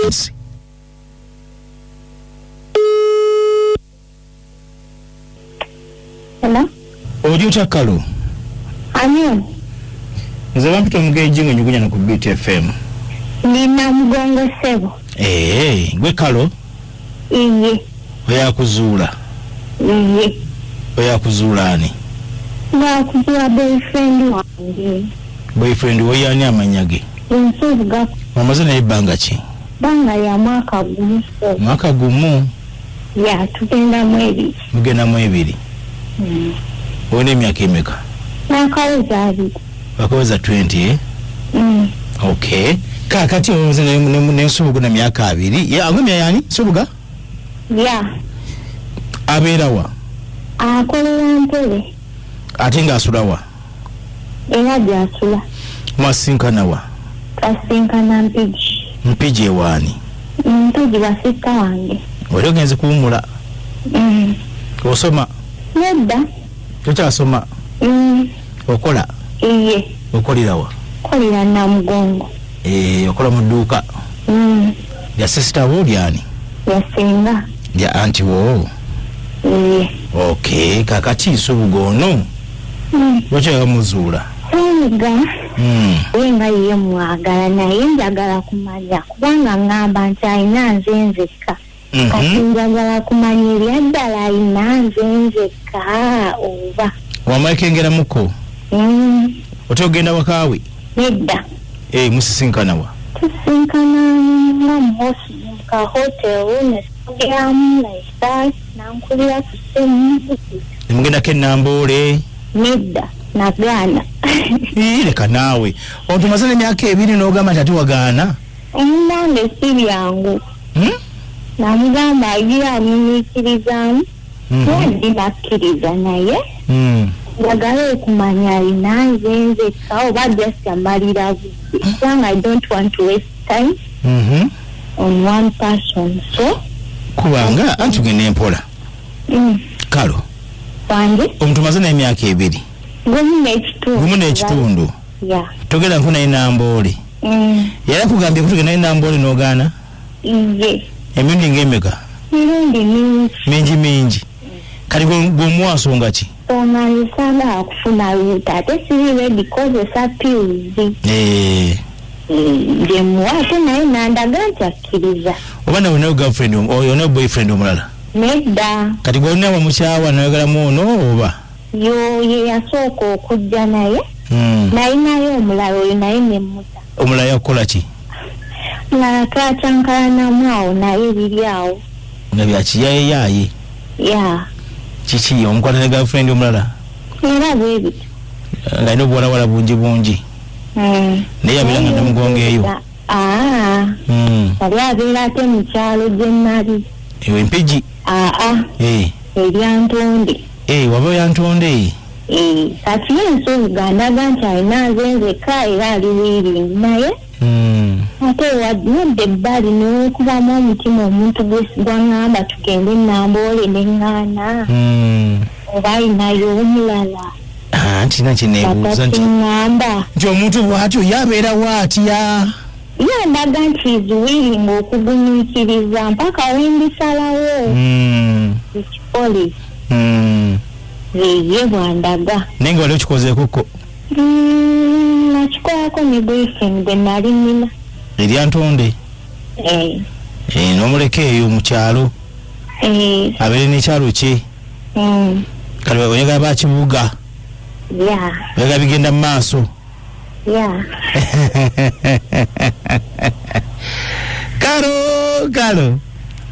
Yes. Hello? oli otya kalo Ani? nze bampita omugenji nga nyugunya na ku beat fm Nina mgongo sebo. ee gwe kalo iye oyakuzuula iye oyakuzuula ani nakuzuula boyfriend wange boyfriend woyani amanya ge ensobuga omaze naye ebbanga ki banga ya mwaka gumu mwaka gumu ya tugenda mwebiki Mugenda mu ebiri. Mm. Olina emyaka emeka? Nakaweza abiri. Wakaweza 20 eh? Mm. Okay. Kakati omuze ne ne ne subuga na myaka abiri. Ya agumya yani subuga? Yeah. Aberawa. Akolera ntebe. ate ng'asulawa era gy'asula mwasinkanawa twasinkana mpigi mpigi ewaani mpigi wasista wange wali ogenze kuwumula mm. osoma nedda tokyasoma mm. okola iye okolerawa okolera namugongo eh, okola mu dduuka mm. lya sisita wo lyani lyasinga lya anti wo Eh, okay kakati nsubuga ono mm, lwaki abamuzuula Senga Mm. ye nga ye mwagala naye njagala kumanya kubanga ngamba nti alina nze nzekka kati Mhm. njagala kumanya ebyaddala alina nze nzekka oba wamala kengeramuko Mm, otya okugenda wakaawe nedda Eh, musisinkanawa tusinkana nga mu hosi mu ka hotel ne Ogeramu like that nankulira ku ssimu ne mugendako enamboole nedda nagaana Ii, leka naawe otumaze n'emyaka ebiri n'ogamba nti ate wagaana omunange si byangu Hmm? namugamba agira amunyiikirizaamu Mhm. kuba ndi nakkiriza naye Mm. njagala okumanya alina nze nzekka oba just amalira budde kubanga i don't want to waste time mm -hmm. on one person so kubanga anti ugenda empola mm. kalo wange omuntu maze naye emyaka ebiri gumu n'ekitundu togenda nku naye namboole mm. yali akugambye kutugenda naye namboole n'ogaana emirundi ng'emeka mirundi mingi mingi mingi kati gweomuwansonga ki nga nsaga kufuna luta ate siri redi kozesa piuzi eh. gyemuwa eh, ate naye nandaga nti akkiriza oba nawe nayo girlfriend oyo nayo boyfriend omulala nedda kati gwolina wamukyawa nayogeramu ono oba yo ye yasooka okujja naye hmm. nayinayo omulala oyo naye nemuta omulala yakukola ki mulala twacankalanamu awo naye biri awo nga byakiyayeyaaye ya kiki omukwata ne girlfriend omulala era bwebiti nga alina obuwalawala bungi bungi Mm. naye yabeera nga namugongo eyo Ah, Mm. yali abeera ate mu kyalo gye nali eyo empigi aa Eh. eryantonde Ee, waba oyantonde ee. Ee, kati ye nsuubuga ndaga nti alina nze nzekka era ali wiiringi naye hmm. ate wadde ebbali newekubamu omutima omuntu gwangamba tugende namboole neŋŋaana hmm. oba alinayo omulala ah, nti nakyenebuuza nti omuntu bwatyo yabeerawo atya Ye ndaga nti is willing okugumiikiriza mpaka wendisalawo mm. ekikole mm. yeye bwandaga naye nga wali okikozeekoko mm, nakikolako ne boyfriend gwe nali nina erya ntonde eh. eh, nomuleka eyo mu kyalo eh. abeere nekyalo kye mm. kati oyagala bakibuga oyagala bigenda mu maaso ya kalo kalo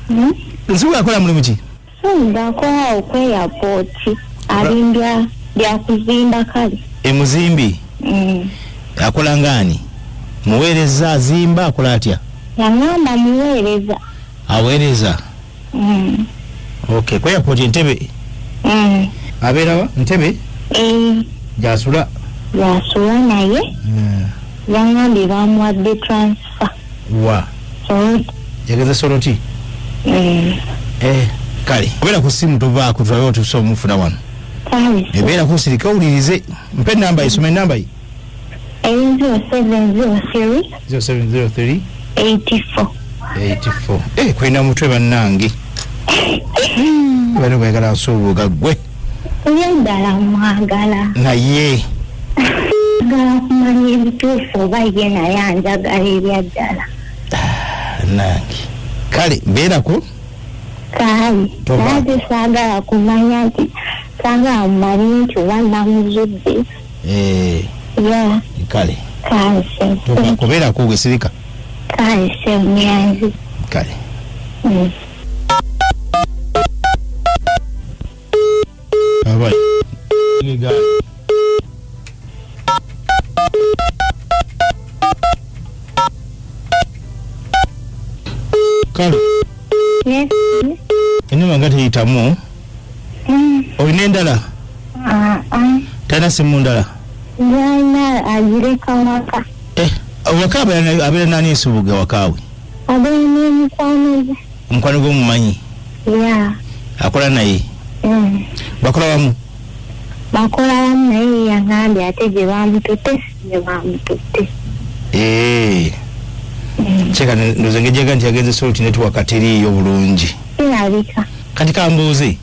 Hmm? nsuku akola mulimu ki senda akola okweyapoti alimbya byakuzimba kale emuzimbi Mm. akola ngaani muweereza azimba akola atya yangamba muweereza aweereza Mm. okay ku airport entebe Mm. abeera wa ntebe Eh, gyasula yasula naye Eh, yangambye bamuwadde transfer wa so yageza soroti mm, eh kale obeera ku simu tovaako tulabe otuusa omufuna wano kale ebeera kusirika owulirize mpe enamba ye soma enamba ye Eyi zero seven zero three. Zero seven zero three. Eighty four. Eighty four. Eh, kulina mutwe bannange. Bano kwagala nsuubuga gwe. Ye ddala mwagala. Naye. Njagala kumanya ebituufu oba ye naye anjagala ebya ddala. Ah, nange. Kale mbeerako. Kale. Toba. Naye saagala kumanya nti saagala mumanye nti oba namuzudde. Eh, ya kale kanse Toba- kubeerako wesirika kanse myanzi kale Mm. Aba- Nigga. kale Yes. enuma nga teyitamu olina endala talina simu ndala eh, awaka abeera nani ensubuga wakaawe omukwano gwomumanyi akola naye mm. bakola wamu bakola wamu naye yangambye ate gye bamututte gye bamututte eh. mm. kyeka ndoza ngejaga nti yagenze solti netwaka teriiyo bulungi kirabika Kati kambuuze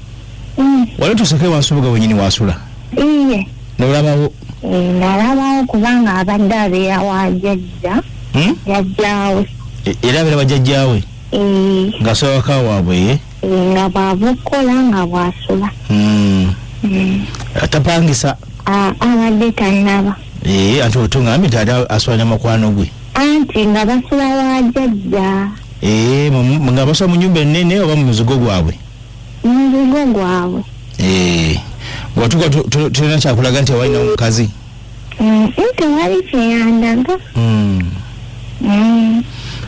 mm. wali tuseko ewasubuga wenyini wasula iye nolabawo eh, nalabawo kubanga abadde abeera wajajja hmm? jajjawe e, era abeera wajajjawe eh. nga sobaka waabwe ye eh, nga bwaba okukola nga bwasula hmm. hmm. tapangisa ah, abadde tanaba ati otungambi tata aswala namakwano gwe anti nga basula wa jajja ee mu- nga basula mu nyumba ennene oba mu muzigo gwabwe muzigo gwabwe ee watuka tulina kyakulaga nti awalina omukazi Mm, tewali kyeyandaga Mm. Mm,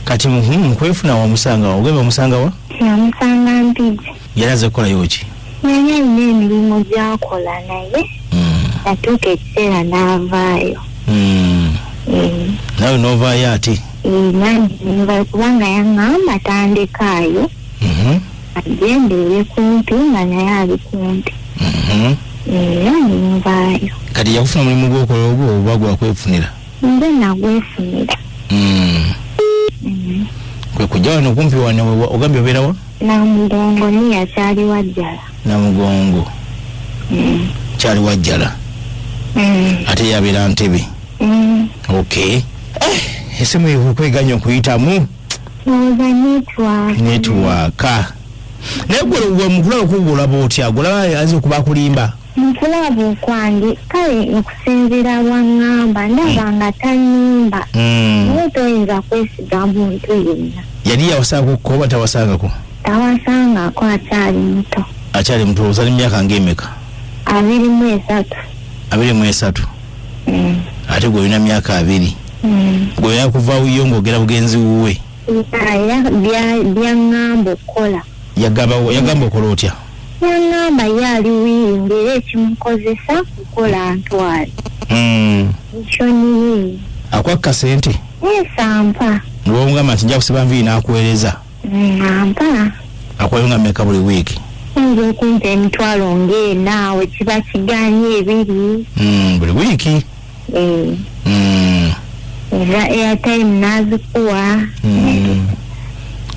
kati mhm, mukwefuna wamusanga wa ogenda omusanga wa namusanga mpigi yali aze kukolayo ki yali alina emirimu gyakola naye hmm. natuuka ekiseera n'avaayo hmm. eh. nawe n'ovaayo ate eh, kubanga yaŋamba tandekaayo mhm. agendeere kumpi nga naye ali kumpi mhm. eh, era nenvaayo kati yakufuna omulimu gwokola ogwo oba gwakwefunira nze nagwefunira hmm. kwe kujja wano kumpi wano ogambye obeerawa Namugongo niya kyali wajjala. Namugongo mm. kyali wajjala mm. ate yabeera ntebe mm. ok eh, esimu ekweganya okuyitamu netwaka naye gwe wemugula okugulaba otya gulaba aza okuba akulimba Mu kulaba okwange kale okusinziira lwang'amba ndaba nga tanyumba mm. naye toyinza kwesiga muntu yenna. Yali yawasaako ko oba tawasangako? Tawasangako akyali muto. Akyali muto ozali myaka ng'emeka? Abiri mu esatu. Abiri mu esatu? Mm. Ate gwe olina myaka abiri? Mm. Gwe yakuvaawo yo ng'ogera bugenzi wuwe? Byaŋŋamba okukola. yagabawo yagamba okola otya yangamba ye ali wiiri ngaera ekimukozesa kukola ntwale hmm. ekyo nyini akwakka sente esampa newongamba nti nja kusiba nviiri nakuweereza ampa hmm, akuwayo nga meka buli wiiki oyinza okumpa emitwalo ngaenaawe kiba kiganye ebiri hmm, buli wiiki Eh, Mm, eza airtime nazikuwa mm.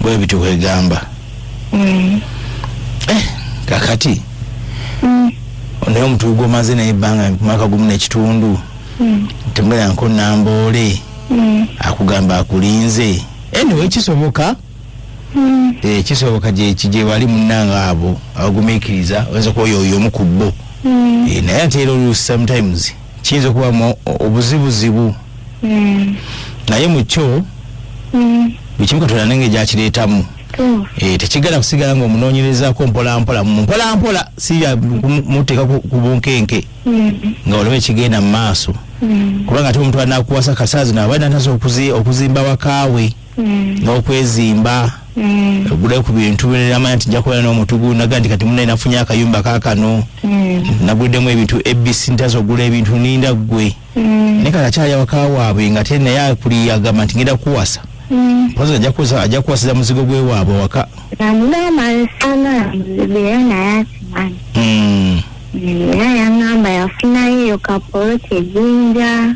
bwe bityo bwegamba Eh, kakati mm, naye omutugu gwomaze naye ebbanga mwaka gumu nekitundu mm, temulanko namboole mm. akugamba akulinze anyway kisoboka Mm. Eh, kisoboka gyewali munange abo abagumikiriza oyinza kuba oyo omu ku bo mm. eh, naye ate era oluusi sometimes kiyinza okubamu obuzibuzibu mm. naye mukyo bwekimu katonda nenge gyakireetamu eh, tekigala kusigala nga omunoonyerezako mpolampola mpolampola siya muteeka ku bunkenke nga olaba ekigenda mu maaso kubanga ate omuntu anakuwasa kasaazi naaba nataza okuzimba wakaawe mm. n'okwezimba mm. ogule ku bintu namanya nti nja kubeera n'omutugu naga nti kati muna nafunye akayumba kakano mm. naguddemu ebintu abc ntaza ogula ebintu ninda ggwe naye kati akyayawaka waabwe nga te naye akuli agamba nti ngenda kuwasa mpozi ajja kuwasiza muzigo gwe waabwe waka era yangamba yafuna yeyo kapoloti ejinja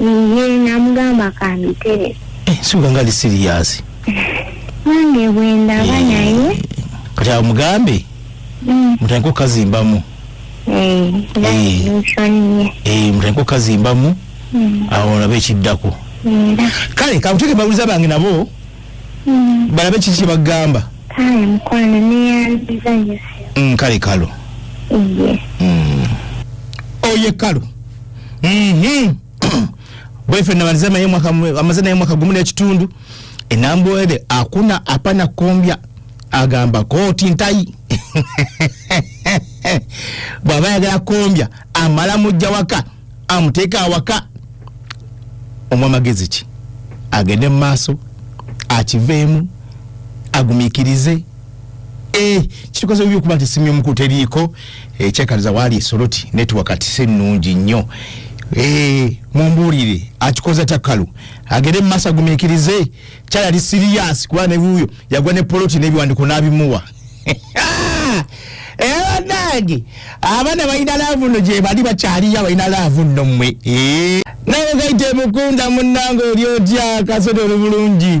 ye namugamba kambitere eh, sibuka nga ali siriyasi nange bwendaba eh, naye kati awo mugambe mm. mutandika okukazimbamu eh, mutandika okukazimbamu mm. awo olaba ekiddako kale kakuteeke bawuliza bange nabo mm. balabe kiki kyebagamba kale kalo oye kalo Mhm. Boyfriend na malizama ye mwaka mu- amazana ye mwaka gumu n'ekitundu enambwere akuna apana kombya agamba kooti ntayi bw'aba ayagala kombya amala mujja waka amuteeka awaka omu amagezi ki agende mu maaso akiveemu agumiikirize eh, kitukoze bubi okuba nti essimu y'omukulu teriiko ekyekaliza waali esoloti network si nnungi nnyo eh, mumbuulire akikoza takkalu agende mumaaso agumikirize kyayali siriyasi kuba newuyo yagwa ne poloti n'ebiwandiko n'abimuwa ebanange eh, abaana balina laavu nno gye bali bakyaliyo abalina laavu nno mmwe eh. nawe gaite mukunda munnange oli otya kasota oli bulungi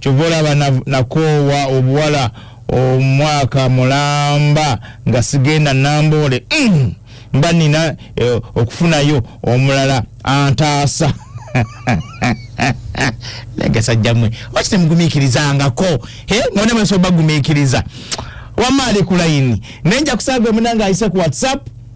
kyova olaba nakoowa obuwala omwaka mulamba nga sigenda namboole mm. mba nina eh, okufunayo omulala antaasa nagasajjamwe waki temugumiikirizangako none mwesoba gumiikiriza wamaali kulayini naye nja kusaaga omunanga ayise ku whatsapp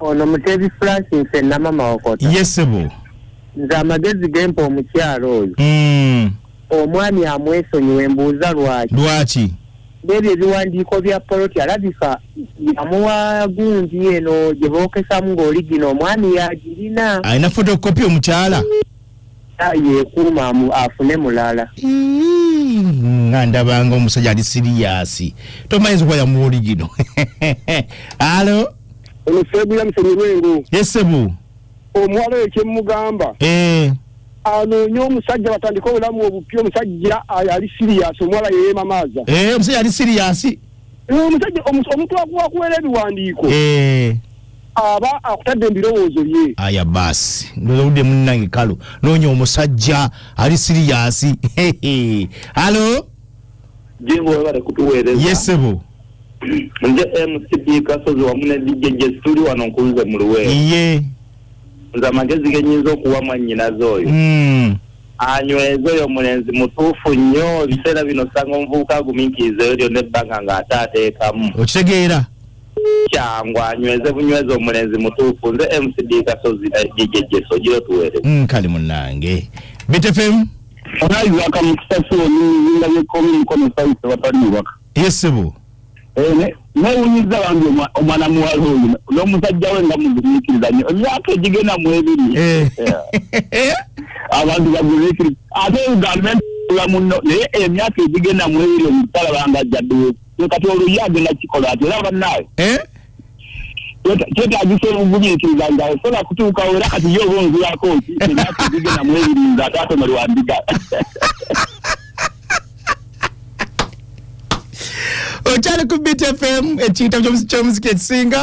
ono mutebi flash nse namama wakota yesebo nze amagezi gempa omukyalo oyo mm. omwami amwesonyiwe mbuuza lwaki lwaki nebyo ebiwandiiko bya poloti alabika yamuwa gundi eno gye bookesamu ng'oli gino omwami yagirina alina fotokopi omukyala yekuuma afune mulala nga ndabanga omusajja ali siriyasi tomanyiza okuba yamuwa oli gino alo Ono sebu ya msemi wengu. Yes sebu. Omwalo ye chemugamba. Eh. Ano nyo musajja batandika obulamu obupyo musajja ali serious omwala ye mamaza. Eh musajja ali serious. Eh musajja omuntu akuwa kuwele biwandiko. Eh. aba akutadde embirowoozo bye aya baasi ndoza budde munnange kalu noonya omusajja ali siriyasi halo jingo webale kutuweereza yesebo nze mcp kasozi wamu ne dj jesi tuli wano nkunze mu luweero iye nze amagezi genyinza okuwa mwannyinaze oyo Mm. anyweze oyo mulenzi mutuufu nnyo ebiseera bino osanga omuvubuka agumiikirizeyo lyonna ebbanga ng'ate ateekamu okitegeera kyangu anyweze bunyweze omulenzi mutuufu nze mcd kasozi na dj jesi ogira otuweereza Mm, kale munange bitefemu Onayi waka mukisa si olinga yekomi mkono sauti watali waka. Ye ssebo. Eh, newunyiza bambi omwana muwala oyo n'omusajja we nga mugumiikiriza nnyo emyaka egigenda mu ebiri eh. Eh. abantu bagumiikiriza ate uganda ntula muno naye emyaka egigenda mu ebiri omusalaba nga jjaddewo kati oluyi agenda kikola ati era bannaawe kyetagisa obugumiikiriza nga osobola kutuuka era kati ye oba onzirako ki emyaka egigenda mu ebiri nga ataatomerwa ndiga okyali ku btfm ekiitabo ky'omuziki ekisinga